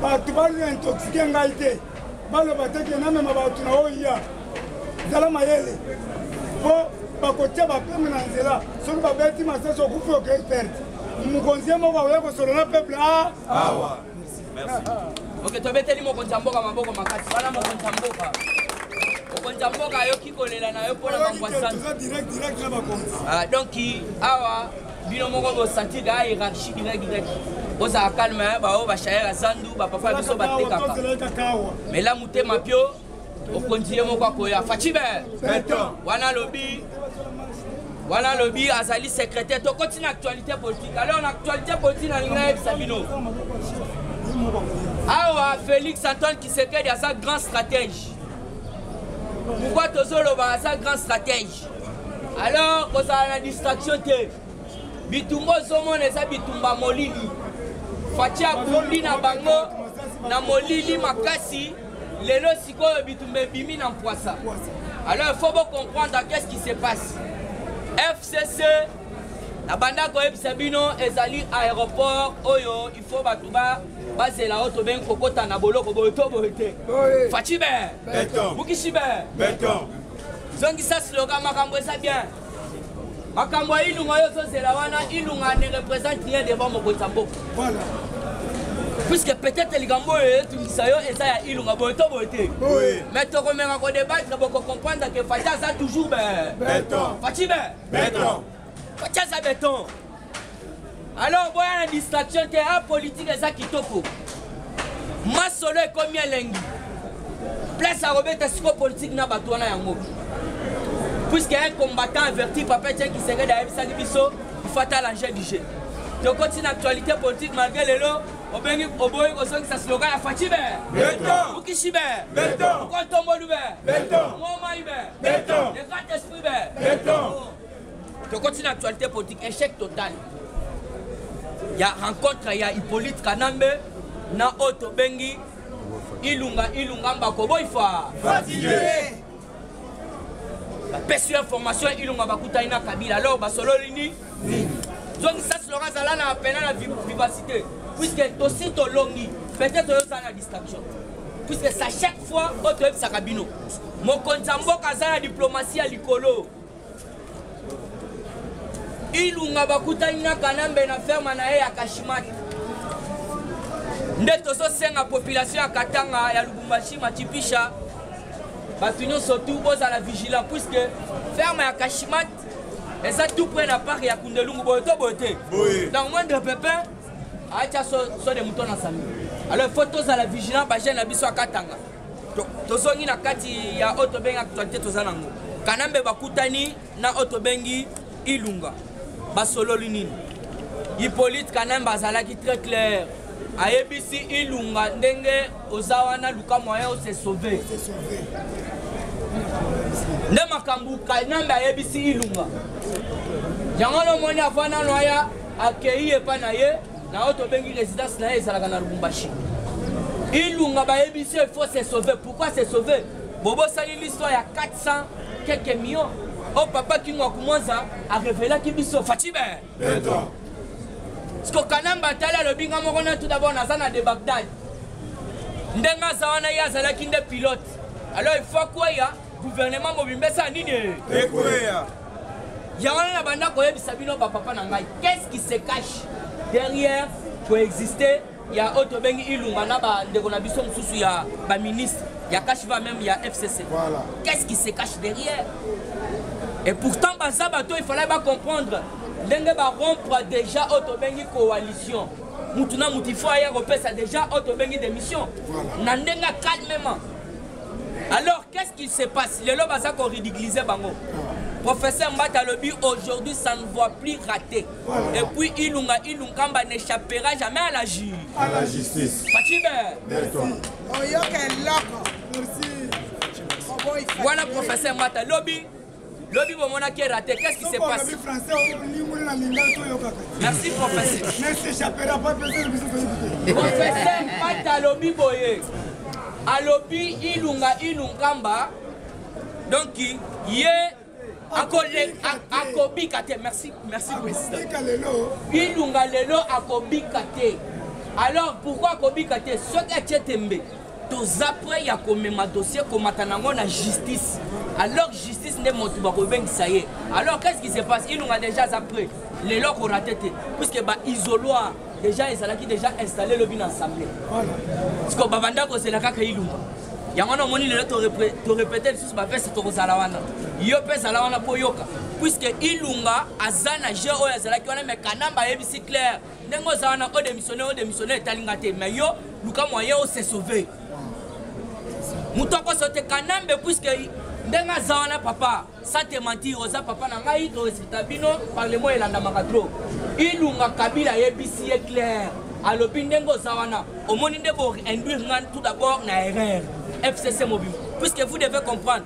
bato balia intoxike ngai te baloba te ke namema bato na oya zala mayele mpo bakotya bapeme na nzela soki babeti masasi okufi okei perte mokonzi ye moko akoya kosolola peuple a awa oke tobeteli mokonzi ya mboka maboko makasi wana mokonzi ya mboka mokonzi ya mboka ayoki kolela na yo mpo na mangwa santu ah, donc awa bino moko bosanti ga hierarchie gina gina bozala calme hein, baoyo bashayera zandu bapapa biso batekaka mela motema pio okonzi ye moko akoya facibe wana alobi wana alobi azali secrétaire tokoti na actualité politique alors na actualité politique nalingi nayebisa bino awa félix antoine kisekedi aza grand stratège pourkoi tozoloba aza grand stratège alors kozala na distraction te bitumba ozomona eza bitumba molili faci abundi na bango na molili makasi lelo sikoyo bitumba ebimi na mpwasa alors il faut bocomprendre qu'est ce qui se passe fcc nabanda koyebisa bino ezali aéroport oyo il faut bato ba bazela oyo tobengi kokota na boloko boye to boye te faci be bukisi be zongisa slogan makambo eza bien makambo ya ilunga oyo ozozela wana ilunga ne représente rien devant mokonzi ya mboka puisque peut-être likambo oyo etungisa yo eza ya ilunga boye to boye te mais tokomeka kodebattre bokocomprendre ke fati aza toujours beton fati be beton fati aza beton alors boya na distraction te a ah, politique eza kitoko masolo ekomi elengi place akobeta siko politique na bato wana yango puisque un combattant averti papa etienne kisengede ayebisaki biso ifata l'enjeu du jeu tokoti na actualité politique malgré lelo obengi oboyi kozongisa slogan ya faci be mukishi be kontombolu be momai be le grand esprit be tokoti na actualité politique échec total ya rencontre ya hippolyte kanambe na oyo tobengi ilunga ilunga mbakoboifa bapesi yo information ilunga bakutani na kabila alors basololi ni zongisa silonga azala na pena na vivacité puisque tosi tolongi peut-être oyozala na distraction puisque sa chaque fois oyo toyebisaka bino mokonzi ya mboka aza na diplomatie ya likolo ilunga bakutani na kanambe na ferme na ye ya kashimaki nde tozosenga population ya katanga ya lubumbashi machipisha bato nyonso tu bozala vigilant puisque ferme ya kashimat eza tout près na parc ya kundelungu boye to boye te donc moindre pepin aatya so, so de moto na sami alors faut tozala vigilant bajeune na biso akatanga tozongi na kati ya oyo tobengi actualité toza nango kanambe bakutani na oyo tobengi ilunga basololi nini hippolyte kanambe azalaki très claire ayebisi ilunga ndenge oza wana luka moyen ose sauve nde makambo kanambe ayebisi ilunga yango nomoni avanano aya akei epai na ye Na oyo tobengi residence na ye ezalaka na Lubumbashi. Ilunga bayebisi il faut se sauver. Pourquoi se sauver? Bobosani l'histoire ya 400 quelques millions. Oh papa Kingo Akumwanza a révélaki biso Fatshi Ben. Beton. Siko Kanamba atali alobi nga moko na tout d'abord naza na de Bagdad. Ndenge aza wana ye azalaki nde pilote. Alors il faut akweya guvernema mobimba esala nini ekweya yango wana nabanda koyebisa bino bapapa na ngai qu'est-ce qui se cache derrière koexiste ya oyo tobengi ilunga na bandeko na biso mosusu ya baministre ya kashiva meme ya fcc voilà. qu'est-ce qui se cache derrière et pourtant baza bato ifalai bacomprendre ndenge barompre déjà oyo tobengi coalition mutu na mutu ifo aya kopesa déjà oyo tobengi démission na ndenge calmement alors qu'est ce qui se passe lelo baza ko ridiculiser bango professeur mbata alobi aujourd'hui ça ne voit plus raté voilà. et puis ilunga ilunkamba n'échappera jamais à la ju à la justice facibe oyoka eloko voilà professeur mbata lobi lobi bomona kera te qu'est-ce qui se passe merci professeur professeur pata alobi boye alobi ilunga ilunkamba donc ye akobika te merci merci président ilunga lelo akobika te alors pourquoi akobika te soki atie tembe toza près ya komema dossier komata nango na justice alors justice nde moto bakobengisa ye alors qu'est-ce qui se passe ilunga déjà aza près lelo akorate te puisque baisoloir déjà ezalaki déjà installé lobi na assemblée siko babanda kozela kaka ilunga yango wana omoni lelo torepete lisusu baveste tokozala wana yo mpe ezala wana boyoka puisque ilunga aza na jeu oyo azalaki wana me kanamba ayebisi claire ndenge oza wana o démissionne o démissionne etali nga te mais yo luka moyen o se sauver moto akoso te kanambe puiske ndenge aza wana papa sa te mentir oza papa na ngai toresipta bino parlement elandamaka tro ilunga kabila ayebisi ye claire alobi ndenge oza wana omoni nde bo induire ngai tout d'abord na erreur fcc mobima puisque vous devez comprendre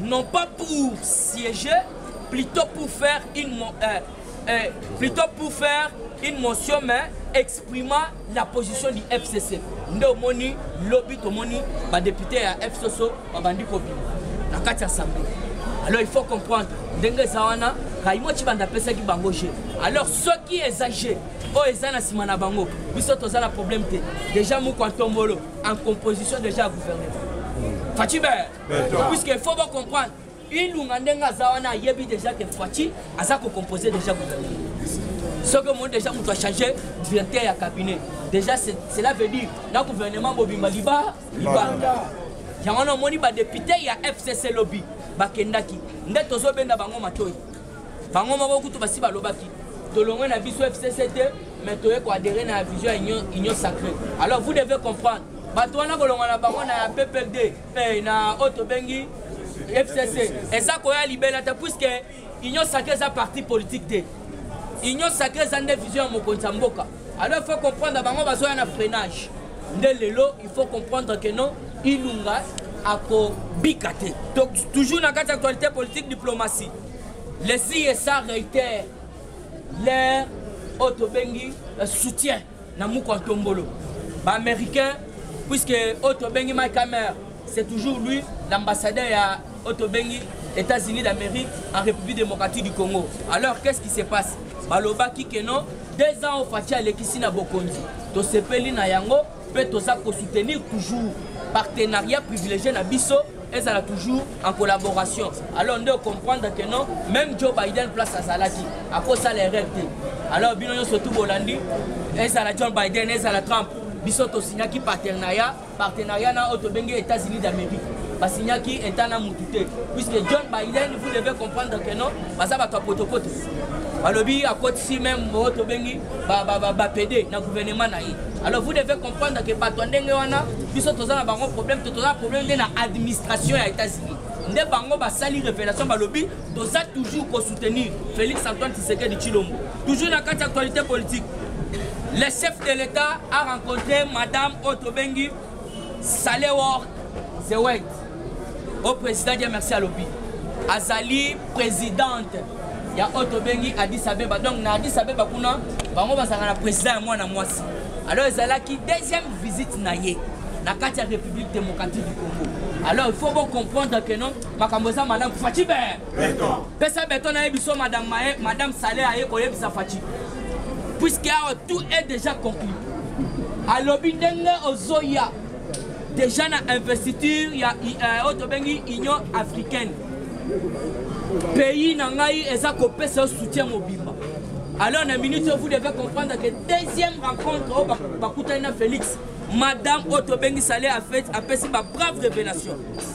non pas pour siéger plutôt pour faire une euh, euh, plutôt pour faire une motion mais exprimant la position du fcc nde omoni lobi tomoni badepute ya fcc babandi kobima na kati ya assemblée alors il faut comprendre ndenge eza wana kaimo cibanda apesaki bango je alors soki eza je oyo eza na nsima na bango biso toza na problème te déjà mukwa ntombolo en composition déjà ya gouvernement faci ber puisque faut bocomprendre ilunga ndenge aza wana ayebi déjà ke faci aza kocompose déjà gouvernement soki omoni déjà moto achange directeur ya cabinet déjà cela veut dire na gouvernement bobima liba libanda yango wana omoni badepute ya fcc lobi bakendaki nde tozobenda bango matoi bango moko kutu basi balobaki tolongwe na biso fcc te mais toye koadere na vision ya union, union sacré alors vous devez comprendre bato wana kolonga na bango na ppd eh, na oyo tobengi fcc eza koya libela te puiske union sacré eza parti politique te union sacré eza nde vision ya mokonzi ya mboka alors il faut comprendre bango bazoya na freinage nde lelo il faut comprendre que non ilunga akobika te donc toujours na kati actualité politique diplomatie les isa réitère leur oyo tobengi euh, soutien na mukwa ntombolo baaméricain puisque oyo tobengi mike amer C'est toujours lui l'ambassadeur ya otobengi États-Unis d'Amérique en République démocratique du Congo. Alors qu'est-ce qui se passe? Balobaki que non, deux ans Fatshi alekisi na bokonzi. Tosepeli na yango pe toza ko soutenir toujours partenariat privilégié na biso ezala toujours en collaboration alors nde comprendre que non même joe biden place azalaki akosala erreur te alors bino nyonso tu bolandi ezala john biden ezala trump biso tosignaki partenariat partenariat na oyo tobengi états-unis d'amérique basignaki eta na mutu te puisque john biden vous devez comprendre que non baza bato ya potopoto balobi akotisi meme oyo tobengi bapede na gouvernement na ye alors vous devez comprendre que bato ya ndenge wana biso toza na bango problème to toza na problème nde na administration ya états-unis nde bango basali révélation balobi toza toujours ko soutenir Félix Antoine Tshisekedi Tshilombo toujours na kati actualité politique le chef de l'État a rencontré madame Otto Bengi Salewor Zewet au président dia merci alobi azali présidente ya oyo tobengi addis abeba donc na addis abeba kuna bango bazalaka na président ya mwana mwasi alors ezalaki deuxième visite na ye na kati ya république démocratique du congo alors il faut bocomprendre que non makambo eza malamu faci be pesa beton na ye biso madame maye madame sale aye koyebisa faci puisque awa tout est déjà conclu alobi ndenge ozoya déjà na investiture ya euh, oyo tobengi union africaine pays na ngai eza kopesa yo soutien mobimba alors na minute oyo vous devez comprendre que deuxième rencontre oyo bakutani na félix madame oyo tobengi sale apesi babrave révélation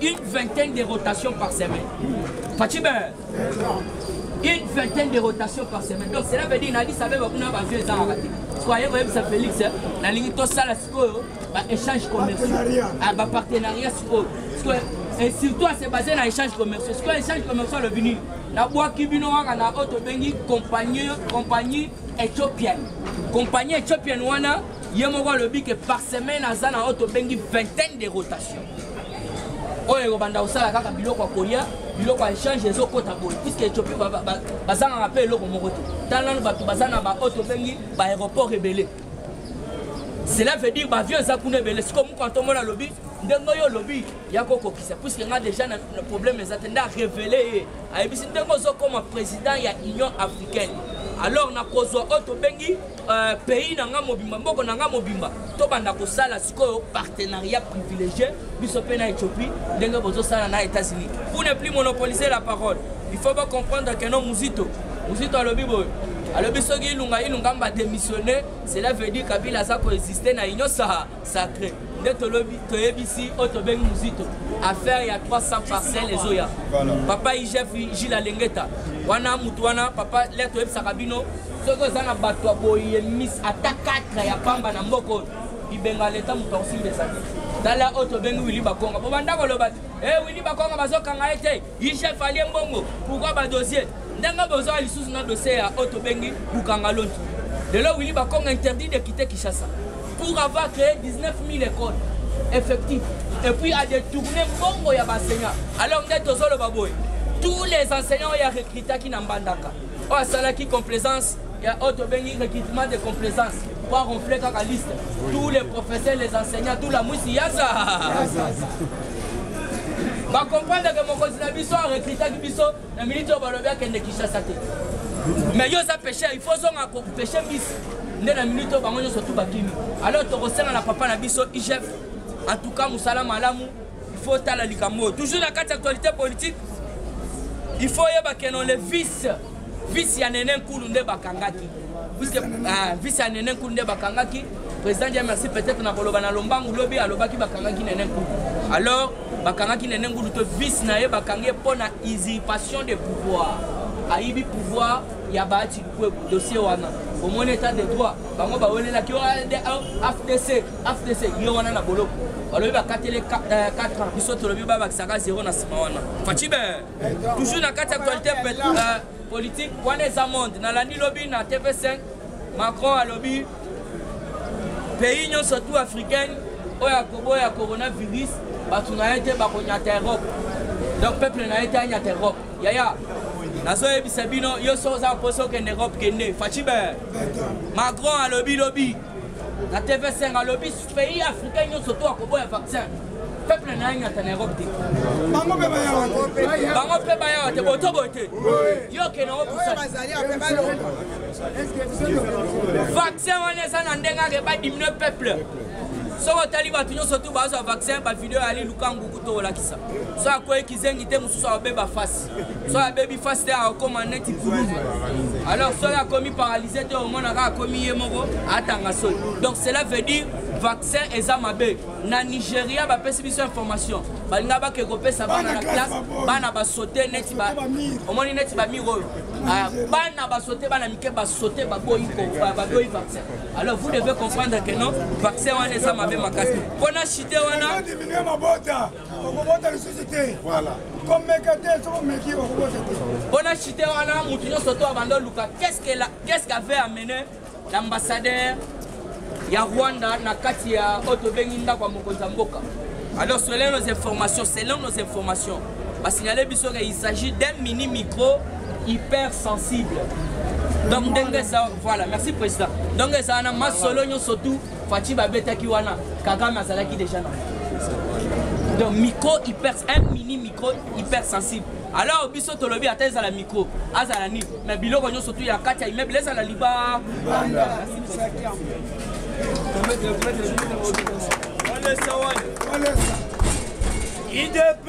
Une vingtaine de rotations par semaine. Fatime, une vingtaine de rotations par semaine. Donc cela veut dire Nadis Abeba kuna ba vieux ezanga kati. Soyez vous ça Félix, hein. nalingi tosala sikoyo ba échange commerciaux, ah, ba partenariat sikoyo. Sikoyo et surtout à se baser na échange commerciaux. Sikoyo échange commerciaux le venu na bwaki bino kaka na oyo tobengi compagnie compagnie éthiopienne. Compagnie éthiopienne wana ye moko alobi que par semaine aza na oyo tobengi vingtaine de rotations. oyo ekobanda kosala kaka biloko ya kolia biloko ya échange ezokota boye puiske ethiopie bazangaka mpe eloko moko te tala nano bato baza na baoyo tobengi baaéroport ebele cela veut dire baavion eza kuna ebele sikoyo moko antomona alobi ndenge oyo olobi ya kokokisa puiske nga déjà na problème eza te nde arévele ye ayebisi ndenge ozokoma président ya union africaine alors nakozwa oyo tobengi Euh, pays na nga mobimba mboko na nga mobimba tobanda kosala sikoyo partenariat privilégié biso mpe na éthiopie ndenge bozosala na états-unis vous ne plus monopoliser la parole il faut bocomprendre que no muzito muzito alobi boye alobi soki ilunga ilunga mba démissionne cela veut dire kabila aza koexiste na union sahara sacré nde tolobi toyebisi oyo tobengi muzito affaire ya 300 parcelle ezoya papa igf gila lengeta wana mutu wana papa le toyebisaka bino soki oza na bato ya boye mis ata 4 ya pamba na mboka oyo bibenga leta moto akosimba ezali tala oyo tobengi wili bakonga bobanda koloba te e eh, wili bakonga bazokanga ye te Yi chef alie mbongo pourquoi ba dossier ndenge bozoya lisusu na dossier ya oyo tobengi bukanga lontu lelo wili bakongo interdit de quitter kinshasa pour avoir créé 19 000 écoles effectif et puis a détourné mbongo ya baenseignant alors nde tozoloba boye tous les enseignants oyo arecrutaki na mbandaka oyo asalaki complaisance ya oyo tobengi recrutement de complaisance po aronfle kaka liste tous les professeurs les enseignants tout la mwisi yaza bacomprendre ke mokonzi na biso arekritaki biso na miniti oyo balobi akende kinshasa te mais yo oza pesher il faut ozonga kopeshe mbisi nde na miniti oyo bango nyonso tu bakimi alors tokosenga na papa na biso igf en tout cas mosala malamu il faut otala likambo oyo toujours na kati ya actualité politique il faut oyeba ke non le vice visi ya nene nkulu nde bakangaki visi ya nene nkulu nde bakangaki président dia merci peut-être na koloba na lombangu lobi alobaki bakangaki nene nkulu alors bakangaki nene ngulu to vice na ye bakangi ye mpo na usurpation de pouvoir ayibi pouvoir ya baati lukwebu dossier wana omoni etat de droit bango bawelelaki afdc afdc ye wana na boloko balobi bakatele 4 euh, ans biso tolobi babakisaka 0 na nsima wana facibe toujours na kati ya actualité euh, politique wana eza monde nalandi lobi na tv5 macron alobi pays nyonso tout africaine oyo akoboya coronavirus bato na ye te bakonyata europe donc peuple na ye te anyata europe yaya nazoyebisa bino yo so oza mposa okende europe kende facibe macron alobi lobi na tv5 alobi pays africain nyonso to akoboya vaccin peuple na ye nyata na europe te bango mpe bayawa te boto boye te yo okende yango vaccin wana eza na ndenge ake badiminue peuple soki otali bato nyonso tu bazwa vaccin bavideo yali lukangu kuto olakisa so akwei kizengi te mosusu abeba fasi soki abebi fasi te akokoma neti kululu alors soki akomi paralyse te omonaka akomi ye moko atanga soi donc cela veut dire vaccin eza mabe na nigeria bapesi biso information balinga bake kopesa bana na classe bana basote neti ba omoni neti bamir oyo ah, bana basote bana mike basote baboyi baboyi vaccin alors vous devez comprendre que non vaccin wana eza mabe makasi mpo na chite wana okobota lisusu te komeka te soki omeki okobota te mpona chite wana motu nyonso to abanda oluka qu'est-ce qu'avait amene l'ambassadeur ya rwanda na kati ya oyo tobengi ndako ya mokonzi ya mboka alors selon nos informations selon nos informations basignale biso ke il s'agit d'un mini micro hyper sensible donc ndenge eza voilà merci président donc eza wana masolo nyonso tout Fatshi babetaki wana Kagame azalaki déjà na donc micro hyper un mini micro hyper sensible alors biso tolobi ata ezala micro azala nini mais biloko nyonso tu ya kati ya immeuble ezala liba idp